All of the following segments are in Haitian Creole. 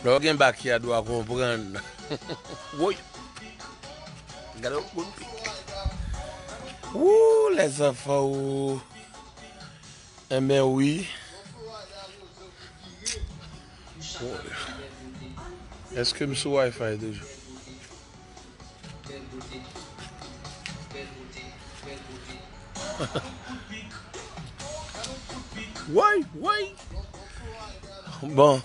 Lè w gen bakyad wa konprann. Woy! Gade yon bon pik. Woo les enfants woo. Enben wi. Eske m sou wifi toujou? Bèl bote Bèl bote Bèl bote Gade yon kout pik Gade yon kout pik Woy woy Bon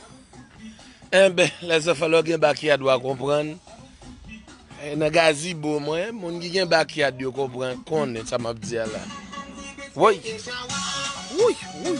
Enben lè zafè lè w gen bakyad wa konprann Nan gazibo mwen moun ki gen bakyad yo konprann konnen sa m ap di a la Woy Woy Woy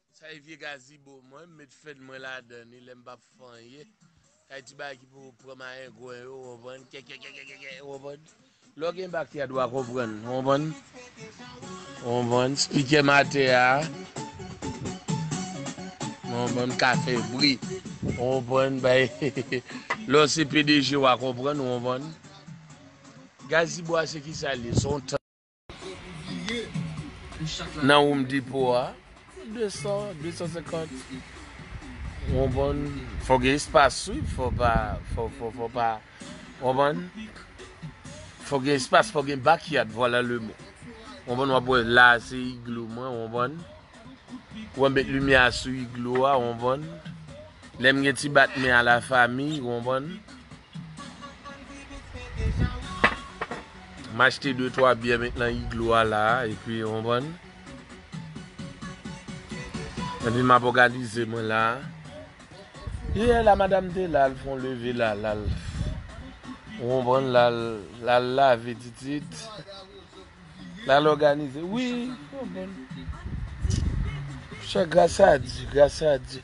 Sa e vye gazibo mwen m met fed mwen ladan li lem pap fè anyen kay ti bagay ki pou pran mayengwen yo ou konprann kèkèkèkèkè ou konprann lè w gen bak yad wa konprann ou konprann ou konprann spikè m atè a ou konprann m ka fè bri ou konprann bay lè w se pdg wa konprann ou konprann gazibo a se kisa l ye se yon tank. Nan Home Depot a, 200, 250 Ou konprann? Fò gen espas wi, fò pa, fò, fò, fò pa Ou konprann? Fò gen espas, fò gen backyard, vwala le mo Ou konprann, wap wè la a se igloo mwen, ou konprann? Ou wè m met limyè a sou igloo a, ou konprann? Lè m gen ti bat men a la famille, ou konprann? M achte de twa byè met nan iglo a la a epi ou konprann. Epi m ap òganize mwen la a. Yè la madam te la l fè yon leve la a l al ou konprann l al lave titit l al òganize wi ou konprann. Chè gras a Dye gras a Dye.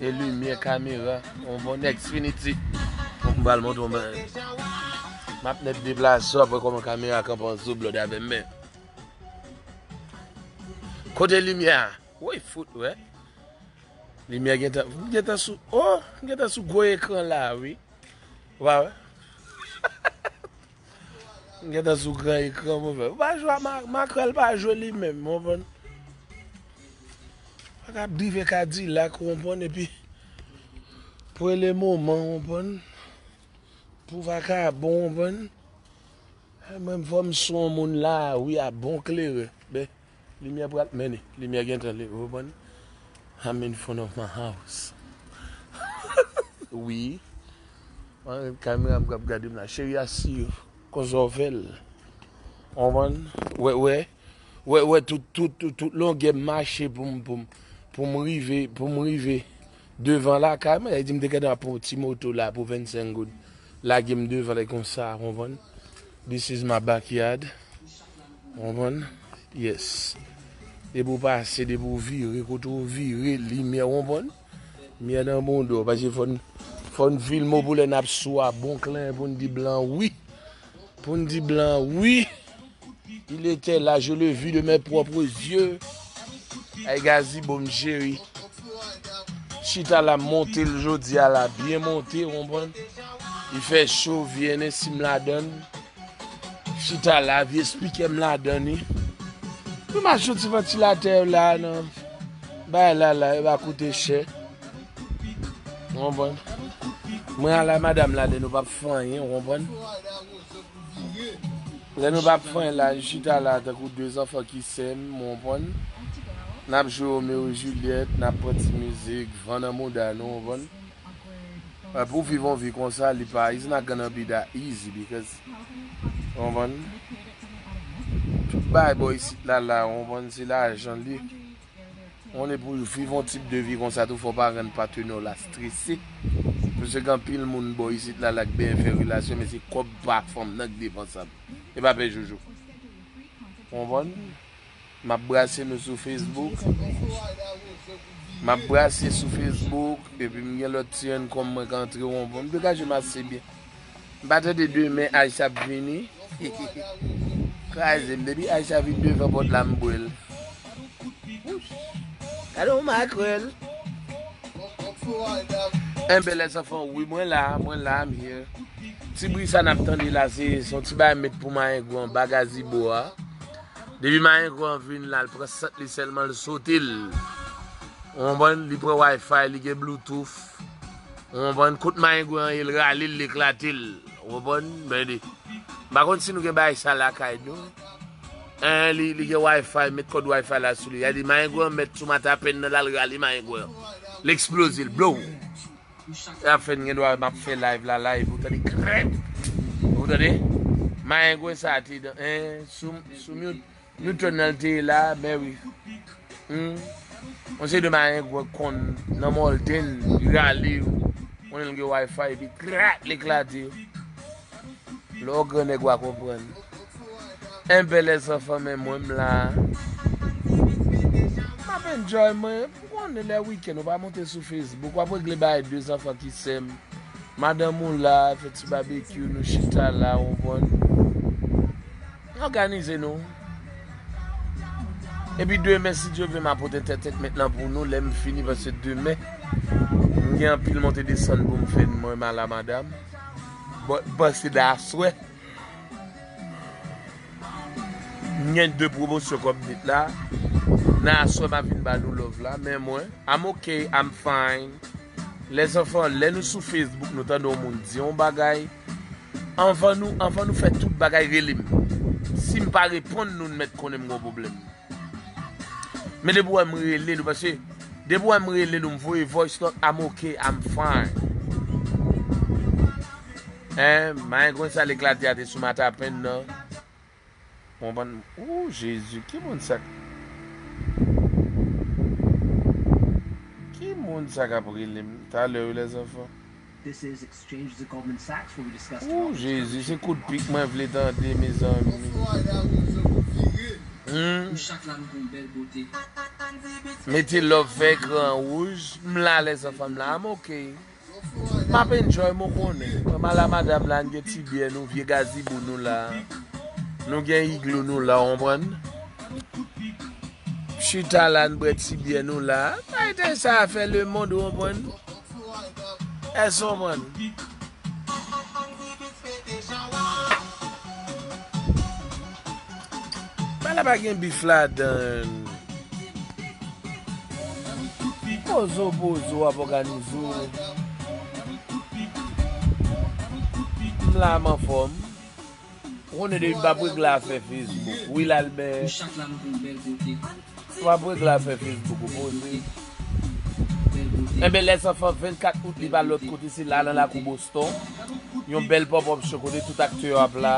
E limyè kamera on bon Xfinity fok m bal montre w bagay map nèt deplase w ap wè kòman kamera kanpe an dlo blòd avè m men Kote limyè a woy fout wè limyè gentan m gentan sou oh m gentan sou gwo ekran la wi ou pa wè. M gentan sou gran ekran mwen fè. Ou pa jwe ak makrèl pa jwe li menm, ou konprann? Pa ka drive kadilak, ou konprann, epi pou e le moman, ou konprann, pou vakabon, ou konprann. Mwen m fò m sou on moun la, wi a bon klere. Limyè pral mennen limyè gentan leve ou konprann I'm in front of my house wi Kamera m kap gadem la cheri a siw kon zòvel ou konprann wè wè wè wè tout tout tout longè m mache poum poum poum rive poum rive Devan lakay mwen, lè li di m te gentan pran yon ti moto la pou 25 goud, lage m devan li konsa, ou konprann? This is my backyard. Ou konprann? Yes. Depi ou pase, depi ou vire, kote ou vire, limyè, ou konprann? Limyè nan bouda w, paske fò n, fò n filme w pou lè n ap swa bon klen pou n di blan wi. Pou n di blan wi. Il etè la je le vi de mè pwòpre zye. Ay gazibo m cheri. Chita la m monte l jodi a la byen monte ou konprann. Li fè cho vye ne si m ladan l. Chita la vye spikè m ladan li. Pou m achte yon ti vantilatè la nan. Bay la la e pa koute chè. Ou konprann? Mwen ala madam la lè nou pap fè anyen, ou konprann? Lè nou pap fè anyen la, nou chita la tankou 2 zanfan ki sèm, ou konprann? Nap jwe Romeo et Juliette, nap pran ti mizik, van nan mouda nou, ou konprann? Epi pou viv yon vi konsa, li pa, it's not gonna be that easy because, ou konprann? Tout bagay bò isit la la, ou konprann, se lajan li. Konnen pou viv yon tip de vi konsa tou fò pa rann patenèw la strese. Mwen se gen anpil moun bò isit la lak byen fè relasyon men se kòb pa fanm nan k defansab. E pa pè jojo. Konprann? Map brase nou sou Facebook. Map brase sou Facebook epi m gen lòt ti income mwen k antre. Mwen degajem ase byen. M pa tande demen Aisha ap vini kraze m depi Aisha vin devan pòt la m bwè l Gade yon makrèl Enben lèzanfan wi mwen la mwen la I'm here Ti bri sa n ap tande la se yon ti bagay m met pou mayengou anba gazibo a Depi mayengou an vin la l pran sant li sèlman l sote l ou konprann li pran wifi li gen bloutouf. Ou konprann, kout mayengwen an ye l rale l, l eklate l. Ou konprann? Ben li. M pa konn si nou gen bagay sa lakay nou. Hein, li, li gen Wi-Fi, met kòd Wi-Fi la sou li. Y'a di mayengwen an mèt sou mata pen nan, l al rale mayengwen an. L eksploze l, blow! Sa y'ap fè n gen dwa wè m'ap fè live la live, ou tande krèt! Ou tande? Mayengwen sa a te dan, hein, sou, sou myoud. Newton nan te la men wi. Humm yon seri de mayengwe k konn nan mòlden li rale yo konnen l gen wifi epi krak l eklate yo lè w grannèg wa konprann enben lèzanfan men mwen m la m ap enjoy mwen pou konnen lè wikenn ou pa monte sou facebook w ap regle bagay de zanfan ki sem madanm ou la fè ti babekyou nou chita la ou konprann. Òganize nou. Epi demen si Dye vle m apote tè tekmèt lan pou nou lè m fini paske demen m gen anpil monte desann pou m fè n mwen m ala madam. Bon panse de aswè. M gen de pwomosyon kòm m dit la. Nan aswè m ap vin ba nou love la men mwen I'm ok, I'm fine. Les enfants lè nou sou Facebook nou tande yon moun di yon bagay anvan nou anvan nou fè tout bagay rele m sim pa reponn nou nou mèt konnen m gon pwoblèm men depi w wè m rele nou paske depi w wè m rele nou m voye voice note I'm ok I'm fine eh mayen konsa l eklate a te sou matapen nan. Bon bann ooh jezi ki moun sa ki moun sa kap relem talè wi les enfants ooh jezi se kout pik mwen vle tande mezanmi humm mete love fè ekran rouj m la les enfants m la I'm ok. Map enjoy mwen konnen. Mwen mal a madam la n gen ti byè nou vye gazibou nou la nou gen igloo nou la w konprann chita la n bwè ti byè nou la bay tèy sa a fè le mond w konprann èske w konprann. Ba la pa gen bif ladann. Pozo pozo ap òganize w. M la m anfòm. Ou konnen depi m pa p regle afè Facebook. Will Albert. M pa p regle afè Facebook ou poze. Enben lè san fanm 24 out li pa lòt kote se la nan lakou Boston. Yon bèl pop up show kote tout aktè yo ap la.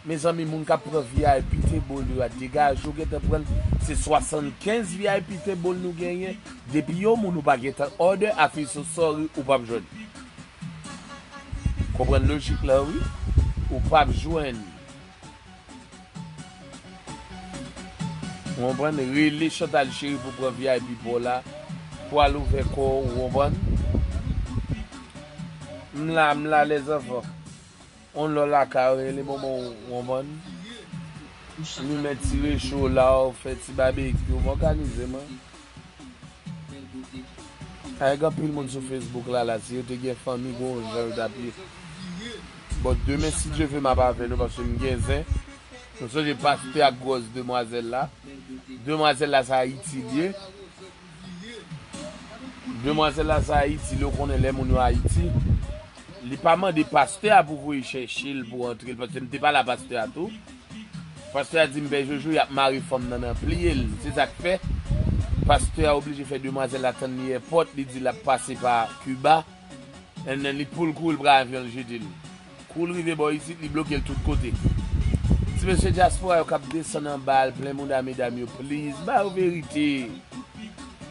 Mezanmi moun kap pran vip table yo a degaje yo gentan pranl se 75 vip table nou genyen depi yon moun ou pa gentan order afin so sorry ou pap jwenn li konprann lojik la wi ou pap jwenn li ou konprann rele Chantal cheri pou pran vip paw la pou al ouvè kòw ou konprann m la m la les enfants. On lò lakay ou rele bonbon wonvonn limen ti recho law fè ti babekyou m òganize mwen avèk anpil moun sou fesbouk lala si yo te gen fanmi gon jan yo tap ye bon demen si Dye vle map avè nou paske m gen zen nou sonje pastè ak gwòs demwazèl la demwazèl la se ayiti l ye. Demwazel la sa ayiti lè ou konnen lè moun yo ayiti li pa mande pastè a pou voye chèche l pou antre l paske m te pale a pastè a tou pastè a di m pè jojo yap mare fanm nan nan pliye l se sak fè pastè a oblije fè demwazel la tann li èpòt li di lap pase pa kiba. And then li poul kouri li pran avyon li jete li. Kou li rive bò isit li blokel tout kote. Ti mesye dyaspora yo kap desann anba al plen mouda medam yo please ba yo verite.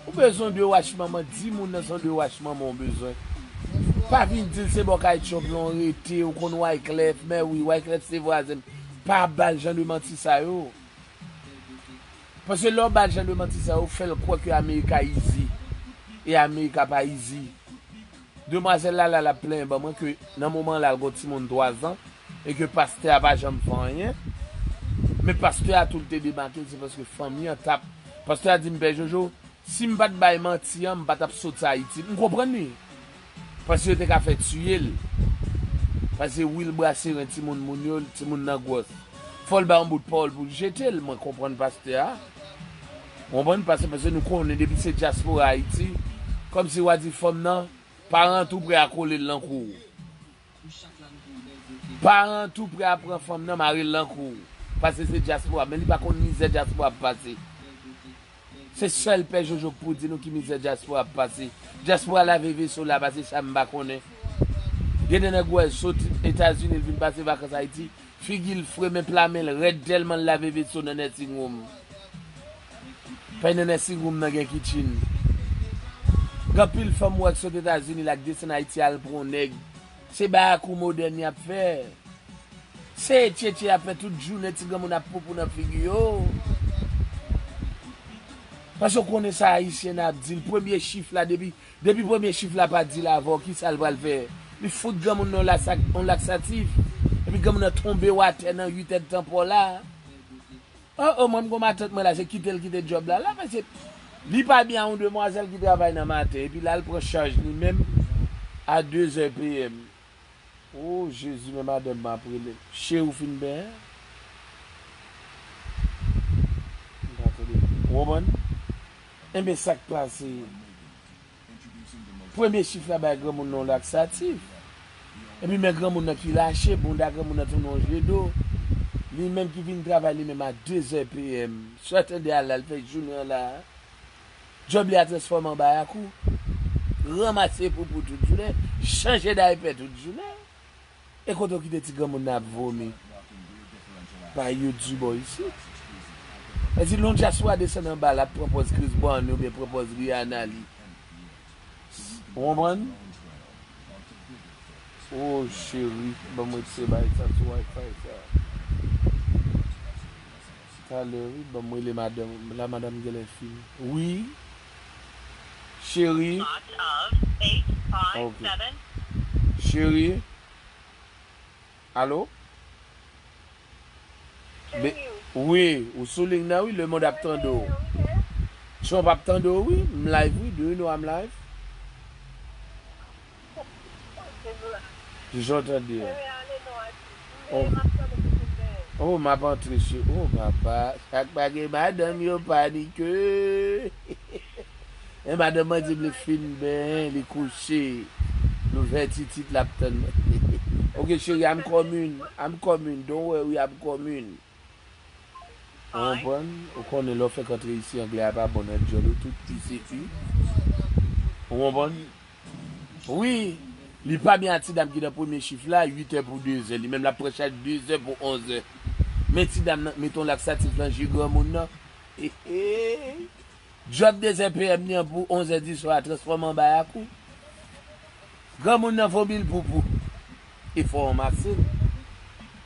Ou bezwen 2 wach manman di moun nan se yon 2 wach manman ou bezwen. Pa vin dil se bò kay Trump lan ou rete ou konn Wyclef mèwi Wyclef se vwazen m pa bal jan de manti sa yo. Paske lè w ba l jan de manti sa yo, w fè l kwè ke America izi. E America pa izi. Demwazèl la la l ap plenyen ban mwen ke nan moman la l gen yon timoun 3 zan e ke pastè a pa janm fè anyen. Men pastè a tou l te demake l se paske fanmi an t ap. Pastè a di m, Pè Jojo, Sim pat bay manti an m pa tap sot ayiti m konprann ui paske yo te ka fè tiyel paske wil brase ren timoun moun yo timoun nan gwòs fòl bay yon bout pawòl poul jetel mwen konprann pastè a ou konprann pase paske nou konnen depi se dyaspora ayiti kòmsi wa di fanm nan pa rantre ou pre a kolel nan kouw. Paran an tou prè a pran fanm nan mare l nan kou w. Pase se dyaspora men li pa konn mizè dyaspora ap pase. Se sèl pè jojo k pou di nou ki mizè dyaspora ap pase. Dyaspora lave veso la pase sa m pa konnen. Gen de nèg wè l soti etazini l vin pase vakans ayiti figi l fre men pla men l rèd tèlman l lave veso nan nèsing wom. Pè nènè si room nan gen kitchen. Gen anpil fanm ou wè ki sot etazini la ki desann ayiti al pran yon nèg se bay ak ou modèn yap fè se tchetche yap fè tout jounen ti granmoun ap poupou nan figi yo paske ou konnen sa ayisyen nan ap di l premye chif la depi depi premye chif la pa dil avèw kisa l pral fè li fout granmoun nan yon lasak yon laksatif epi granmoun nan tonbew atè nan 8 èd tan paw la. Oh oh mwen m gon matant mwen la se kitel kite job la la mesye Li pa byen a yon demwazèl ki travay nan maten epi lal pran chaj li menm a 2 zè PM oh jezi men madanm mwen ap relem Cheri ou fin benyen Ou konprann Enben sak pase. Premye chif la bay granmoun nan yon laksatif. Epi men granmoun nan ki lache, bounda granmoun nan tounen yon je do. Li menm ki vin travay li menm a 2 zè PM. Swa tande a la, li fè jounen an la a. Djòb li a transfòme an bayakou. Ranmase poupou tout jounen, chanje daypè tout jounen. E kote ou kite ti granmoun nan ap vomi pa you du bò isit? E di lon dyaspora desann anba lap pran pòz Chris Brown li oubyen pran pòz Rihanna li. Ou konprann? Oh cheri banm wè se bay sa sou Wi-Fi sa. Talè wi banm rele madanm ou la madanm genlè fini wi. Cheri. Ok. Cheri. Alo? Wi, ou sou ling nan wi, lemond ap tande w. Trump ap tande w wi, m live wi, do you know I'm live? Jan w tande an. Oh map antre se oh papa sak pa gen madanm yo panike eh madanm mwen dim li fin benyen li kouche nou vè titit lap tann mwen ok cheri I'm coming I'm coming don't worry I'm coming. Ou konprann? Ou konnen lè w fèk antre isi anglè a pa bon nan dyòl ou tout u se u. Ou konprann? Wi! Li pa byen a ti dam ki nan premye chif la, 8 è pou 2 zè. Li menm l ap pran chaj 2 zè pou 11 è. Men ti dam nan k mete yon laksatif nan je granmoun nan. Eheey! Dyòb 2 zè PM li an pou 11 è di swa a transfòme an bayak wi. Granmoun nan vomi l poupou. E fò w ranmase l.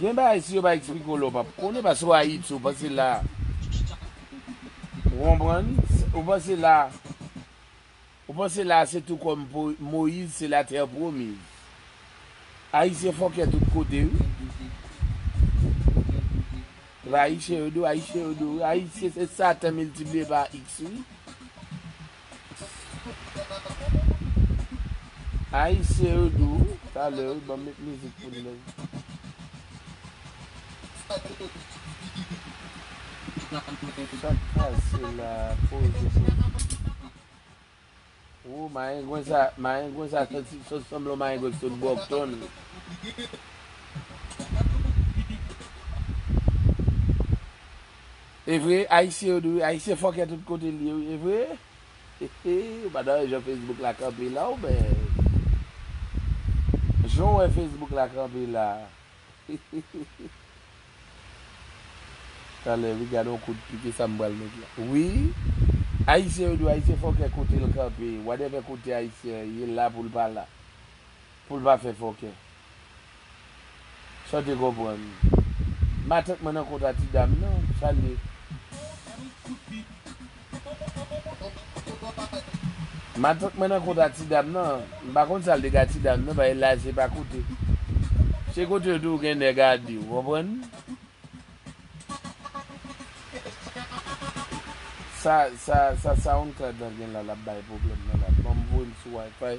Gen bagay si yo pa explike w la w pap konnen paske w ayiti w panse la ou konprann ou panse la ou panse la se tou kòm moyiz se la tè pwomiz ayisyen fòkè tout kote wi epa ayisyen yo dou ayisyen yo dou ayisyen se satan miltipliye pa x wi. Ayisyen yo dou wi talè wi banm met mizik pou nou menn. Sak pase la poze pou nou. Woo mayengwen sa mayengwen sa santi sot sanble yon mayengwen ki sot brockton. Evre ayisyen yo di wi ayisyen fòkè tout kotel ye wi evre hehe ou pa tande jan Facebook la kanpe la ou men jan ou wè Facebook la kanpe la hehehehe talè wi gadon kout pik esa m pral met la wi ayisyen yo di w ayisyen fòkè kotel kanpe wadèvè kote ayisyen ye la poul pala. Poul pa fè fòkè. Saw te konprann. Matant mwen nan kontra ti dam nan, sal ye? Matant mwen nan kontra ti dam nan, m pa konn sal te ka ti dam nan paske laj se pa kote. Se kote yo di w gen nèg a di w konprann. Sa sa sa soundcloud lan gen la lap bay pwoblèm nan la banm voyem sou wifi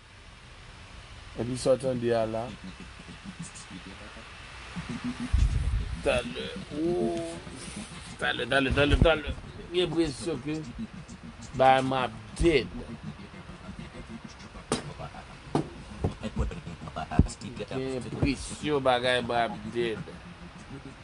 Epi sa w tande a la. Talè ooh talè talè talè talè m gen presyon ke bagay mwen ap dead. M gen presyon bagay mwen ap dead.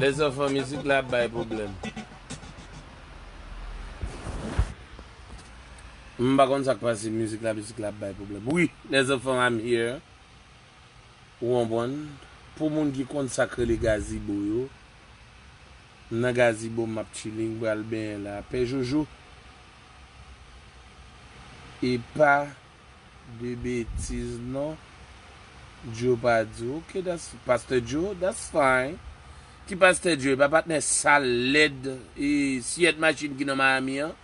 Les zanfan mizik la ap bay pwoblèm. M pa konn sak pase mizik la mizik la ap bay pwoblèm wi les zanfan I'm here ou konprann pou moun ki konn sak rele gazibo yo m nan gazibo map chilling pral benyen la pè jojo epa de betiz non. Djo pa di ok that's Pasteur Djo that's fine Ki Pasteur Djo epa patnè sal lèd e siyèt machin ki nan Miami an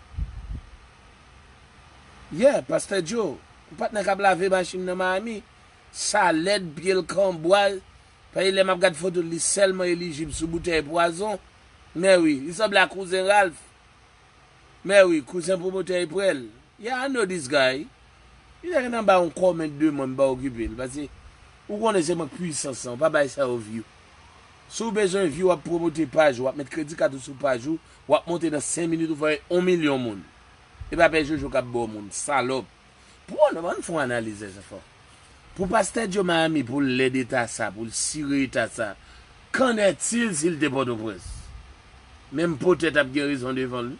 Yeah Pasteur Djo patnè kap lave machin nan Miami sa lèd pyel kanbwa paske lè map gad fotol li sèlman elijib sou boutèy pwazon mèwi li sanble ak kouzen Ralph Mèwi kouzen pwomotè e prèl. Yeah I know this guy. Li ta gentan bay yon comment de mwen m pa okipe l pase ou konnen se mank pwisans lan ou pa bay sa yo view. Si w bezwen view wap pwomote paj ou wap met kredi kat ou sou paj ou wap monte nan 5 minit ou fè 1 milyon moun. E pa pè jojo kap ba w moun. Salòp. Pou an nou fon analiz de zafè. Pou pastè Joe Miami pou l lèd eta sa, pou l sire eta sa, kann ètil si l te Pòtoprens? Men m poutèt ap gen rezon devan l wi.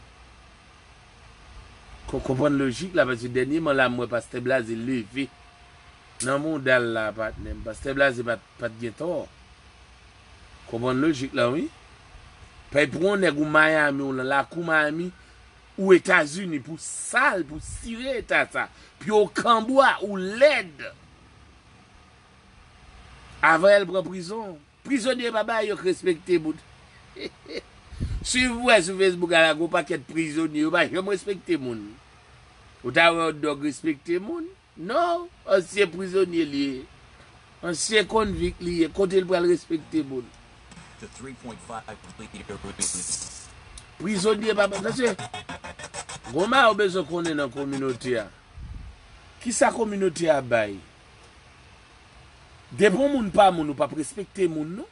Kon konprann lojik la paske dènyeman la m wè pastè Blaze leve nan mouda l la patnè m. Pastè Blaze pa t gen tò. Konprann lojik la wi. Pèy pou on nèg ou Miami ou lan lakou Miami Ou etazini pou sal pou sire eta sa pye w kanbwa ou lèd avan el pran prizon prizonye pa bay yo k respekte moun swiv mwen sou fesbouk ala gon pakèt prizonye yo pa janm respekte moun ou ta wè yon dòg respekte moun. Non, ansyen prizonye li ye. Ansyen konvik li ye. Kote l pral respekte moun? Prizonye pa Mesye, gon bagay ou bezwen konnen nan kominote a. Kisa kominote a bay? Depi yon moun pa moun, ou p ap respekte moun non.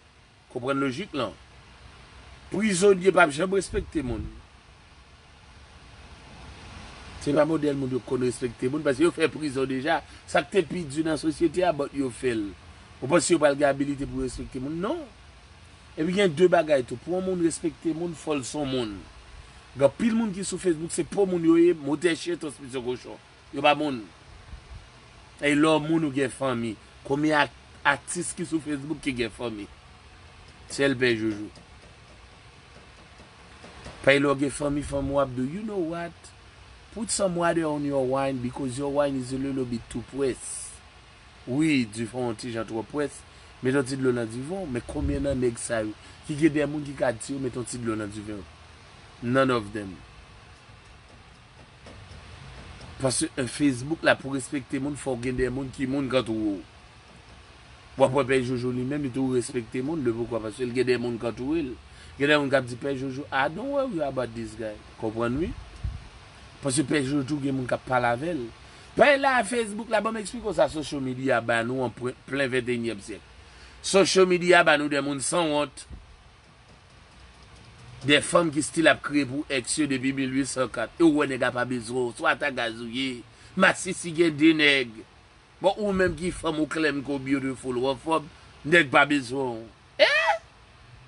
Konprann lojik lan. Prizonye pap janm respekte moun. Se pa modèl moun yo konn respekte moun paske yo fè prizon deja. Sa k te pi di nan sosyete a bòt yo fè l. Ou panse yo pral gen abilite pou yo respekte moun? Non. Epi gen de bagay tou. Pou yon moun respekte moun fò l son moun. Gen anpil moun ki sou Facebook se po moun yo ye, motè chyen, transmisyon kochon. Yo pa moun. Ey lè w moun ou gen fanmi. Konbyen atis ki sou Facebook ki gen fanmi? Sel pè joujou. Pay lè w gen fanmi fanmi w ap di w you know what put some water on your wine because your wine is a little bit too pwès. Wi di fon yon ti jan twò pwès. Met yon ti dlo nan diven w. Men konbyen nan nèg sa yo ki gen de moun ki ka di yo met yon ti dlo nan diven w? None of them. Paske Facebook la pou respekte moun fòw gen de moun ki moun kantoure w. Wap wè pè jojo li menm li tou respekte moun le poukò paske li gen de moun kantoure l. Gen de moun kap di pè jojo ah don't worry about this guy konprann wi. Paske pè jojo tou gen moun kap pale avè l. Pay la Facebook la banm eksplike w sa social media ba nou an plen ventenyèm syèk. Social media ba nou de moun san wont. Gen fanm ki stil ap kriye pou ex yo depi 1804 e ou wè nèg a pa bezwen w, swa ta gaz ou ye, masisi gen 2 nèg, bon ou menm ki fanm ou klèm ke w beautiful, wofòb, nèg pa bezwen w eeh!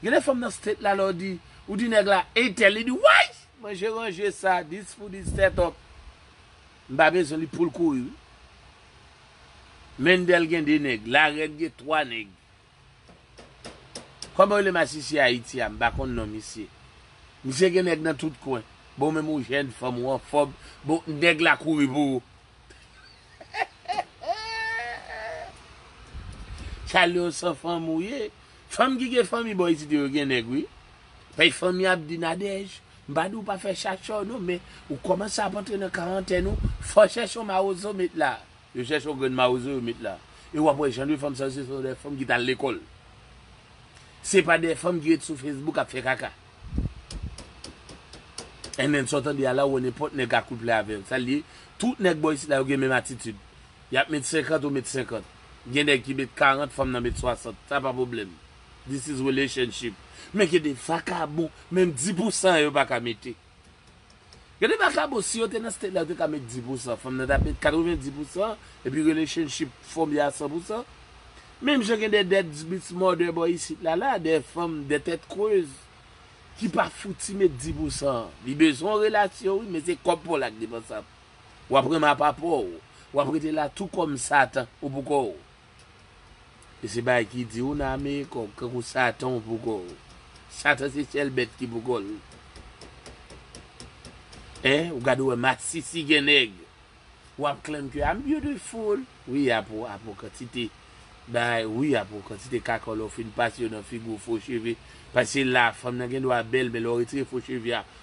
Gen de fanm nan state la lè w di, ou di nèg la ey tèl li di wayy! Manje ranje sa, this food is set up, m pa bezwen li poul kouri wi. Mendel gen 2 nèg, Larèn gen 3 nèg, Koman yo rele masisi ayiti a m pa konn non misye. Misye gen nèg nan tout kwen. Bon ou menm ou jèn, fanm ou anfòm, bon nèg la kouri pou ou. Sa lè w san fanm ou ye. Fanm ki gen fanmi bò isit yo gen nèg wi. Pè fanmi ap di Nadège, m pa di w pa fè chachè w non men ou kòmanse ap antre nan karantèn ou, fò chèchon mawozo met la. Yo chèche yon grenn mawozo yo met la. E wap wè jan de fanm sa yo se son de fanm ki tal lekòl. Se pa de fanm ki ret sou Facebook ap fè kaka. NN sa w tande a la ou wè nenpòt nèg akouple avè l. Sa l ye? Tout nèg bò isit la yo gen menm atitid. Yap met 50 ou met 50. Gen nèg ki met 40 fanm nan met 60. Sa pa pwoblèm. This is relationship. Men gen de vakabon menm 10 pou 100 yo pa ka mete. Gade vakabon si yo te nan state la yo te ka met 10 pou san fanm nan tap met 90 pou san epi relationship fòme a 100 pou san menm jan gen de dead bitch mother bò isit la la de fanm de tèt kreuz ki pa fouti met 10 pou san li bezwen yon relasyon wi men se kòb paw la ki depansab wap renmen a pa paw wap rete la tou kòm satan ou pou kòw. E se bagay ki di ou nan amerika ou kankou satan ou pou kò ou. Satan se sèl bèt ki pou kò l. Hein ou gade ou wè masisi gen nèg. Ou ap claim ke I'm beautiful wi apre apre yon kantite bagay wi apre yon kantite kaka lè ou fin pase yo nan figi w fo cheve paske se la fanm nan gen dwa bèl men lè ou retire fo cheve a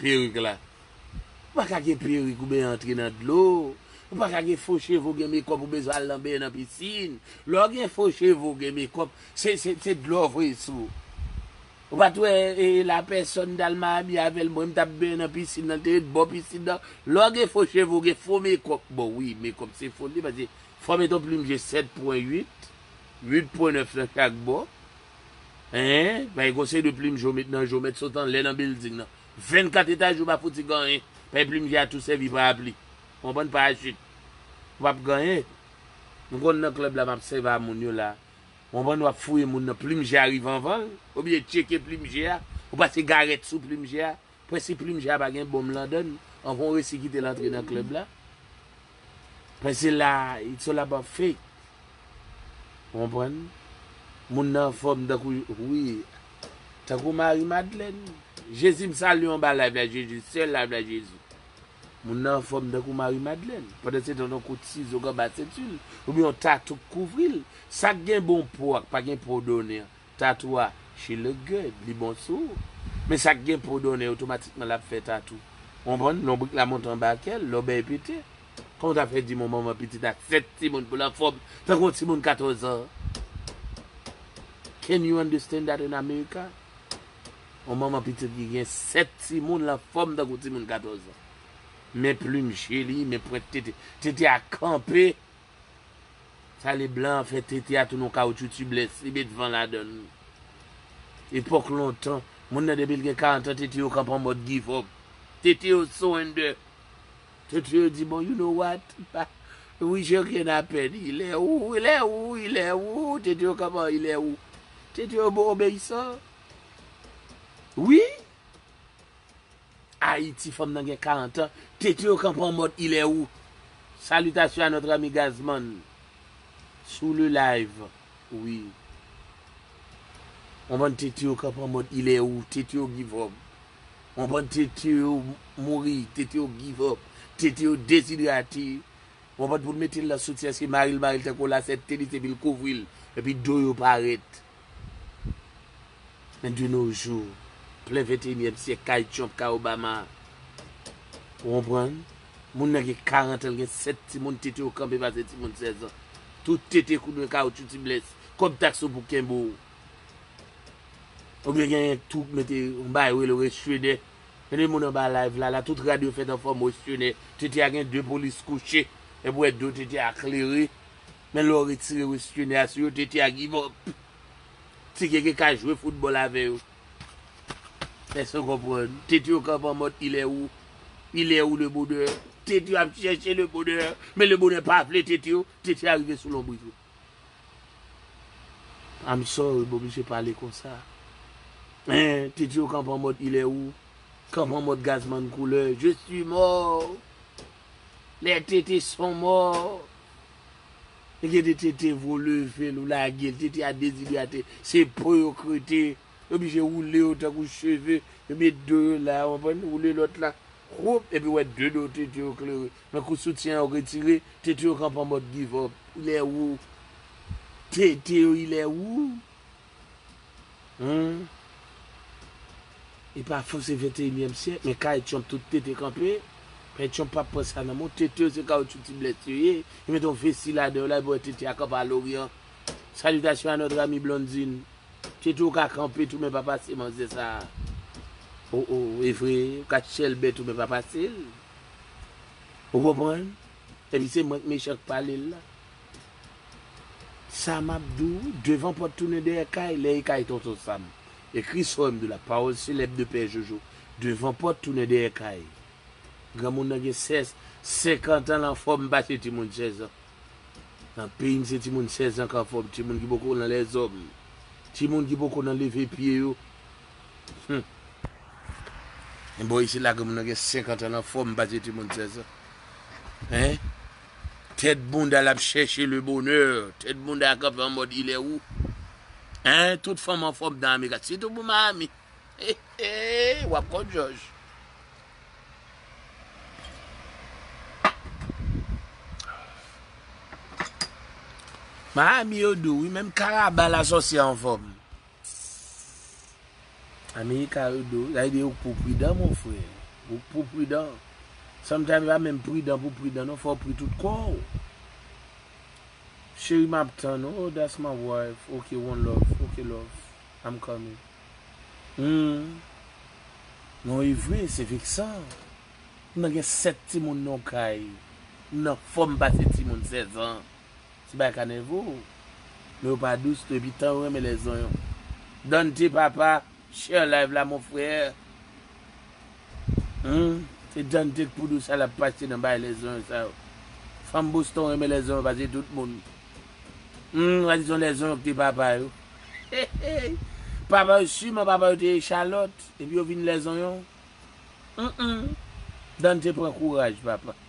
Perik la. Ou pa ka gen perik ou ben antre nan dlo. Ou pa ka gen fo cheve ou gen mekòp ou bezwen al nan ben nan pisin. Lè w gen fo cheve ou gen mekòp, se dlo w voye sou ou. Ou pa t wè la pèsòn t al mabi avè l mwen m t ap benyen nan pisin nan l te ret bò pisin nan. Lè w gen fo cheve ou gen fo mekòp. Bon wi mekòp se foli paske fò w met yon plim je 7 pwen 8, 8 pwen 9 nan chak bò. Eehh bay gon seri de plim jo met nan jo mèt sot anlè nan bilding nan 24 etaj yo pa fouti gan yen bay plim je a tou sèvi parapli on bann parachit ou pap gan yen m konn nan club la map sèvi a moun yo la on bann wap fouye moun nan plim je a rive anvanl ou byen tcheke plim je a ou pase garèt sou plim je a. Prensip plim ja pa gen bonm landann anvan w resi kite l antre nan club la Paske se la it's all about faith Ou konprann Moun nan anfòm tankou wi Tankou Marie Madeleine Jezi m salye w anba live la Jezi Sè live la Jezi Moun nan anfòm tankou Marie Madeleine Pandansetan yon kout sizo k anba senti l oubyen yon tatou k kouvri l Sa k gen bon po ak pa gen po done an Tatou a she look good li bon sou ou men sak gen po donnen otomatikman lap fè tatou ou konprann lonbrik la monte anba kèl lòbèy pete kòman tap fè di mwen manman pitit ak 7 timoun poul anfòm tankou yon timoun 14 ans can you understand that in America yon manman pitit ki gen 7 timoun li anfòm tankou timoun 14 ans men plim je li men pwent tete tete a kanpe Sa le blan an fè tete a tounen yon kawoutchou tubeless, li met van ladann. Epòk lontan, moun nan depi l gen 40 ans tete yo kanpe an mòd give up. Tete yo surrender. Tete yo di bon you know what, wi je rien a peine, il est où, il est où, il est où, tete yo kanpe an il est où. Tete yo obeyisan. Wi! Ayiti fanm nan gen 40 ans tete yo kanpe an mòd il est où? Salutation à notre ami Gazman sou le live wi yon bann tete yo kanpe an mòd il est où? Tete yo give up yon bann tete yo mouri tete yo give up tete yo deshidrate yon bann pou l mete l nan soutyen se mari l mari l tankou yon lasèt tenis epi l kouvri l epi do yo parèt. Men de no jou, plen venteyinyèm syèk kay Trump, kay Obama. Ou konprann? Moun nan gen 40 an, l gen 7 timoun, tete yo kanpe pase timoun 16 an. Tout tete kou dwen kawoutchou ti bless. Kòb taks ou pou kenbe w. Ou byen gen yon twoup mete yon bagay yo rele restenè. Gen de moun anba live la la, tout rad yo fèt an fòm restenè. Tete a gen 2 polis kouche, epi ou wè do tete a klere. Men lè w retire westhene a sou yo Tete a give up. Ti Gege ka jwe foutbòl avè yo. Èske n konprann? Tete yo kanpe an mòd il est où? Il est où le bonheur? Tete yo ap chèche le bonheur, men le bonheur pa vle tete yo, tete a rive sou lonbrit yo. I'm sorry m oblije pale konsa. Hein, tete yo kanpe an mòd il est où? Kanpe an mòd Gazzman Couleur, je suis mort! Les tete son morts. Gen de tete vro level ou lagel tete a dezidrate se po yo krete yo blije woule yo tankou cheve yo met do yo la ou konprann woule lòt la woup epi wè de do tete yo klere nan kou soutyen an ou retire tete yo kanpe anmòd give up ilè wou tete yo ilè wou. Humm e pa fo se 21 nyèm syèk men kay trump tout tete kanpe pè trump pap pran sa nan men w tete yo se kawoutchou ti blèt yo ye yo mete yon vesti ladan yo la epi wè tete a kanpe a loryan salutation à notre amie blondine tete w ka kanpe tou men pa pase manzè sa oh oh evre ou ka chèlbè tou men pa pase l ou konprann epi se mwen k mechan k pale l la. Sa map di w, devan pòt tounen dèyè kay, lè e kay Tonton Sam, ekri sou M2 la, pawòl selèb de Pè Jojo, devan pòt tounen dèyè kay. Granmoun nan gen 16, 50 an l anfòm pase timoun 16 an. Nan peyi n se timoun 16 an k anfòm, timoun ki poko nan lèzòm, timoun ki poko nan leve pye yo. Hum! Men bò isit la granmoun nan gen 50 an l anfòm pase timoun 16 an. Hein! Tèt bounda lap chèche le bonheur tèt bounda a kanpe an mòd il est où hein tout fanm anfòm dan amerika sitou pou miami heheeh wap kont jòj miami yo dou wi menm karaba la sòsyè anfòm. Ssss America yo do sa vle di ouk pou pridan mon frè ouk pou pridan sometimes pa menm pridan pou pridan non fòw pri tout kòw Cheri map tann ou oh that's my wife ok one love ok love I'm coming humm non evre se veksan m nan gen 7 timoun nan yon kay m nan fòm pase timoun 16 ans. Ti bagay ka nève w men yo pa dous tou epi tan yo renmen lè zonyon. Dante papa share live la mon frère humm se Dante k pou dous al ap pase nan bagay lè zonyon sa yo. Fanm Boston renmen lè zonyon pase tout moun humm wa di son lè zonyon k te papa yo hehey papa yo siman papa yo te echalòt epi yo vin lè zonyon humm Dante pran kouraj papa.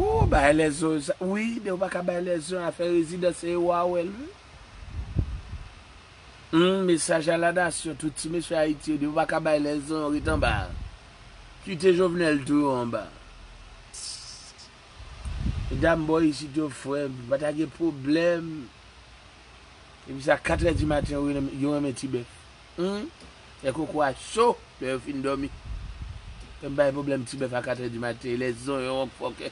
Ooh bagay lèzon yo sa wi dew paka bay lèzon afè rezidan se yo wa wèl wi humm mesaj a la nasyon tout ti mesye ayiti yo dew paka bay lèzon ret anba kite jovenel tou yo anba medam bò isit yo frèm nou pata gen problèm depi sa 4 è di maten yo renmen tibèf Humm fè koko a cho lè yo fin domi Fèm bay problème ti bèf a 4 heures du matin lè zonyon wonk fòkè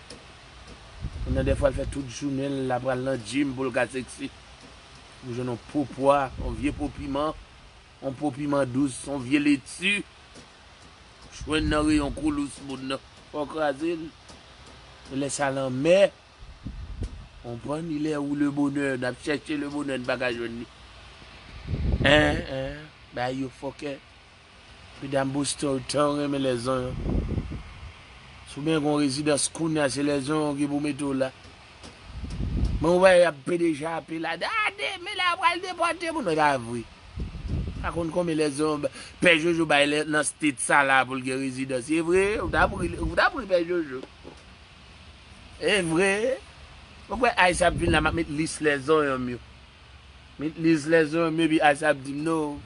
ou nan dèfwa l fè tout jounen l la pral nan gym pou l ka sexy ou jwenn yon po pwa yon vye po piman yon po piman dous yon vye leti ou jwenn nan reyon koulous moun nan fè w kraze l e lè sa lanmè. Konprann li lè ou le bonè nap chèche le bonè n pa ka jwenn li eeh eeh bagay yo fòkè medam boston yo tan renmen lèzon yo si w gen yon rezidans kounya se lèzon yo ki pou mete w la men ou wè yap pede chape la da de men la yo pral depòte moun pa vre m pa konn konbyen lèzon yo pè jojo bay nan state sa la pou l gen rezidans se vre ou tap ri ou tap ri pè jojo. Evre Ou kwè Aisha ap vin la map met lis lè zonyonm yo Met lis lè zonyonm yo epi Aisha ap dim non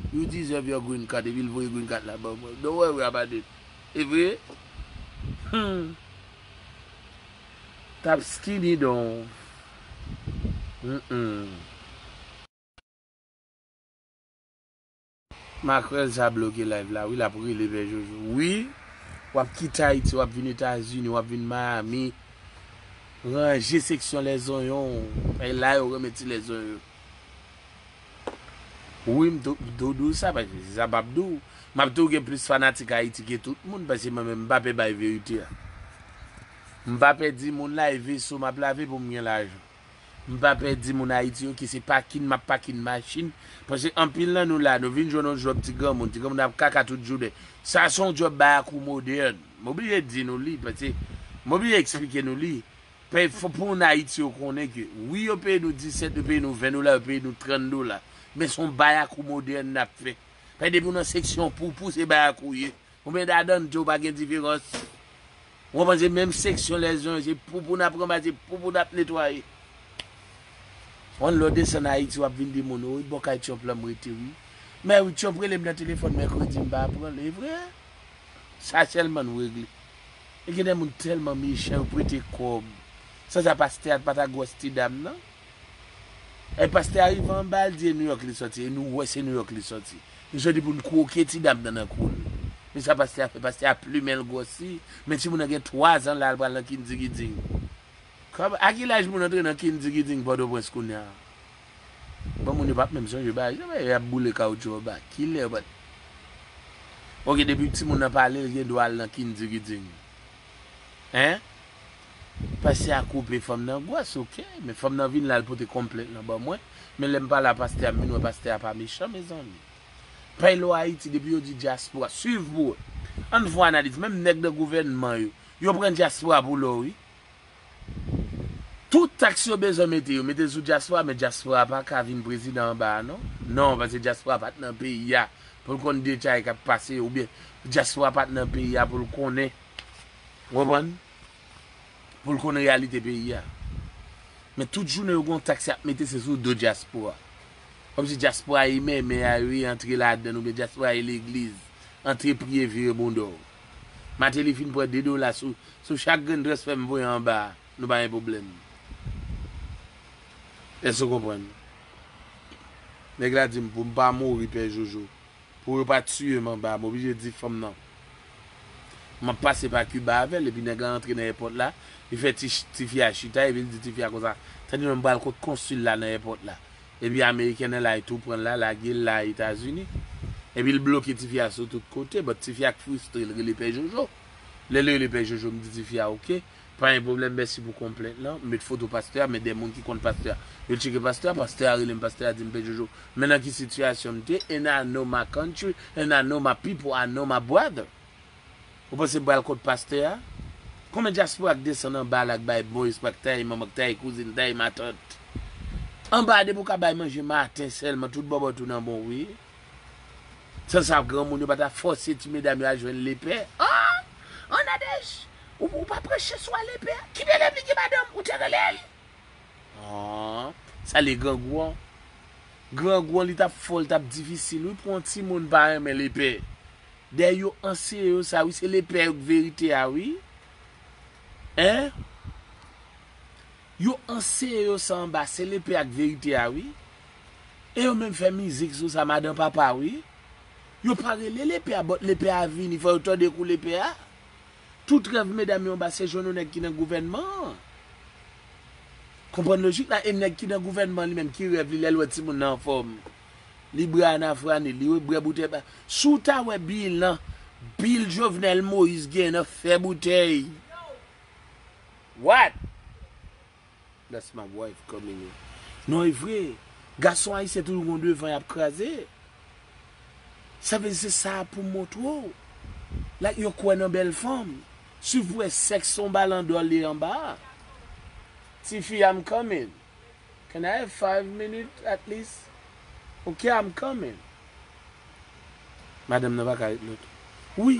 You deserve your green card epi l voye green card la ba mwen Don't worry about it Evre Humm Tap skinny don Humm. Makrèl sa bloke live la wi lap rele vè jojo wi wap kite ayiti wap vin etazini wap vin miami ranje seksyon lè zonyon w paske la yo renmen ti lè zonyon yo wi m do diw sa paske se sa m pap diw map diw gen plis fanatik ayiti ke tout moun paske mwen menm m pa pè bay verite a m pa pè di moun lave so map lave pou m gen lajan. M pa pè di moun Ayiti yo ke se pakin m ap pakin machin, paske anpil nan nou la, nou vin jwenn yon djòb ti granmoun, ti granmoun ap kaka tout jounen. Sa se yon djòb bayakou modèn. M oblije di nou li, paske m oblije eksplike nou li. Pè fò pou moun Ayiti yo konnen ke wi yo peye nou 17, yo peye nou 20 dola, yo peye nou 30 dola, men se yon bayakou modèn n ap fè. Pè depi w nan seksyon poupou se bayakou ou ye, Ou mèd adan tou pa gen diferans. Ou konprann se menm seksyon lè zwen se poupou nap ranmase se poupou nap netwaye. One love desann ayiti wap vin di moun wi bò kay Trump lan m rete wi. Mè wi Trump rele m nan telefòn mèkredi m pa pranl evre? Sa sèlman nou regle. E gen de moun tèlman mechan yo prete kòb. San sa pastè ak patagwòs ti dam nan. Ay pastè a rive anba al di e New York li sòti e nou wè se New York li sòti li sòti poul kwoke ti dam nan nan koul men sa pastè a fè pastè a plumenl gròsi men timoun nan gen 3 zan la al pral nan kindigiding kòm a ki laj moun antre nan kindigiding pòtoprens kounya bon moun yo pap menm sonje bagay sa yo yap boule kawoutchou anba kilè yo pat ok depi timoun nan pale l gen dwa al nan kindigiding hein. Pastè a koupe fanm nan gwas ok men fanm nan vin la l pote konplent lan ban mwen men lèm pa la pastè a m vin wè pastè a pa mechan mezanmi pay lwa ayiti depi yo di dyaspora swiv pou wè ann fon analiz menm nèg nan gouvènman yo yo pran dyaspora pou lò wi tout taks yo bezwen mete yo mete l sou dyaspora men dyaspora pa ka vin prezidan anba a non non paske dyaspora pat nan peyi a pou l konn detay kap pase oubyen dyaspora pat nan peyi a pou l konnen. Ou konprann? Pou l konn reyalite peyi a. Men tout jounen yo gen yon taks y ap mete se sou do dyaspora. Kòmsi dyaspora e mèmè a, yo e antre ladan l oubyen dyaspora e legliz. Antre priye vire bondò w. Mateli fin pran 2 dola sou chak grenn transfè m voye anba a, nou pa gen pwoblèm. Èske ou konprann? Nèg la di m pou m pa mouri pè Jojo. Pou yo pa tiyem anba m oblije di fanm nan map pase pa Cuba avèl epi nèg la antre nan èpòt la li fè tifi a chita epi li di tifi a konsa tande menm pral kot konsil la nan èpòt la epi amerikèn elay tou pranl la lagel la etazini epi l bloke tifi a sou tout kote but tifi a k fristre l rele pè jojo lèl rele pè jojo m di tifi a ok. Pa gen pwoblèm mèsi pou konplèt lan. Met foto pastè a men de moun ki konn pastè a yo tcheke pastè a pastè a rele m pastè a di m pè jojo men nan ki sitiyasyon m te and I know my country and I know my people I know my brother ou panse m pral kont pastè a konbyen dyaspora k desann anba la k bay bon espwa k taye manman k taye kouzin taye matant anba depi w ka bay manje maten sèlman tout bòbòt ou nan bon wi. San sa granmoun yo pa ta fòse ti medam yo al jwenn lepè. Aah! An Nadège! Ou pa pran chè swa lepè a? Ki delèv li gen madanm? Ou te rele l? Aah! Sa li grangou an? Grangou an li t ap fò, li t ap difisil wi pou yon timoun pa renmen lepè. Dayè yo anseye yo sa wi, se lepè yo k verite a wi. Hein? Yo anseye yo sa anba se lepe ak verite a wi e yo menm fè mizik sou sa madan papa wi yo pa rele lepe a but lepe a vini fò yo tande kou lepe a tout rèv medam yo anba se jwenn yon nèg ki nan gouvènman an konprann lojik la e nèg ki nan gouvènman an li menm ki rèv li lèl wè timoun nan anfòm li bre ana frani li we bre boutèy pa si w ta wè bilan bil jovenel moïse genyen nan fè boutèy. What? That's my wife coming in Non e vre Gason ayisyen toujou gon devan yap kraze Sa vle di se sa poum montre w Like yo kwè nan bèl fanm Siw p wè sèks son balan dò li anba a Tifi I'm coming Can I have five minutes at least Ok I'm coming Madanm nan paka ret non tou Wi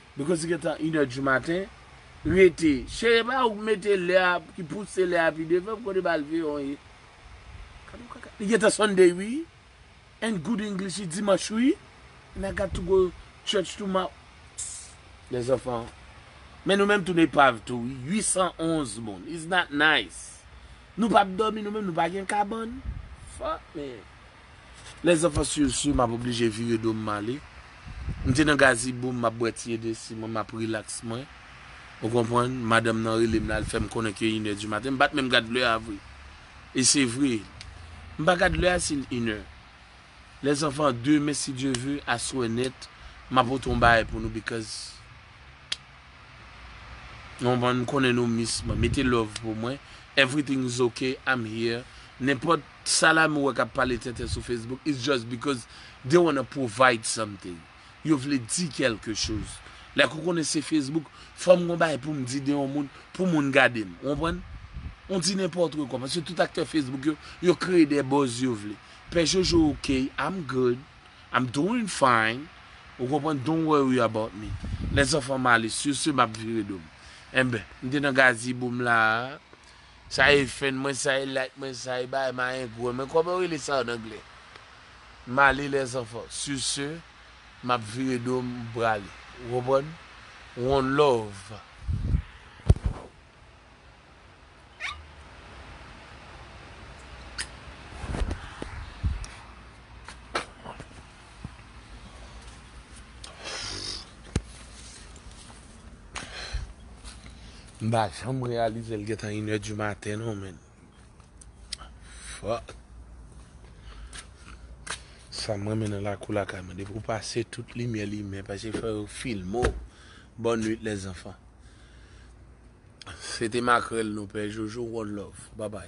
Because li gentan inè du maten rete chere epa ou k mete lè a ki pouse lè a pi devan pou konde bal veyonw ye gad on kaka li gentan Sunday wi and good English li dimanch wi and I got to go church tomorrow pssst les enfants men nou menm toune epav tou wi 811 moun is not nice nou pap domi nou menm nou pa gen kabann fuck man. Les enfants sur sur map oblije vire do m male. M te nan gaziboum map bwè ti edesi mwen map relax mwen. Ou konprann, madanm nan rele m la al fè m konnen ke inè di maten. M pat menm gad lè a vre. E se vre. M pa gad lè a si l inè. Les enfants demen si Dieu veut aswè nèt ma pote yon bagay pou nou because nou konprann m konnen nou miss mwen. Mete love pou mwen. Everything is ok, I'm here. Nenpòt Salam ou wè kap pale tenten sou Facebook it's just because they wanna provide something yo vle di kèlke choz like ou konnen se Facebook fòm gon bagay poum di de yon moun pou moun gadem ou konprann ou di nenpòtre kò paske tout aktè Facebook yo yo kreye de buzz yo vle pè jojo ok I'm good I'm doing fine ou konprann don't worry about me lèzanfan Malice sur ce map vire dom enben m te nan Gazibo m la a. Sa e fèn mwen sa e like mwen sa e bay mayengwen mwen kòman yo rele sa an anglè m ale lèzanfan sur ce m ap vire do m m prale ou konprann one love. M pa janm reyalize l gentan inè di maten non men. Fòk. Sa m renmen nan lakou lakay mwen. Depi ou pase tout limyè limen. Pase fè yo filme ou. Bòn nwit lè zanfan. Se te makrèl nou pè. Jojo one love. Babay.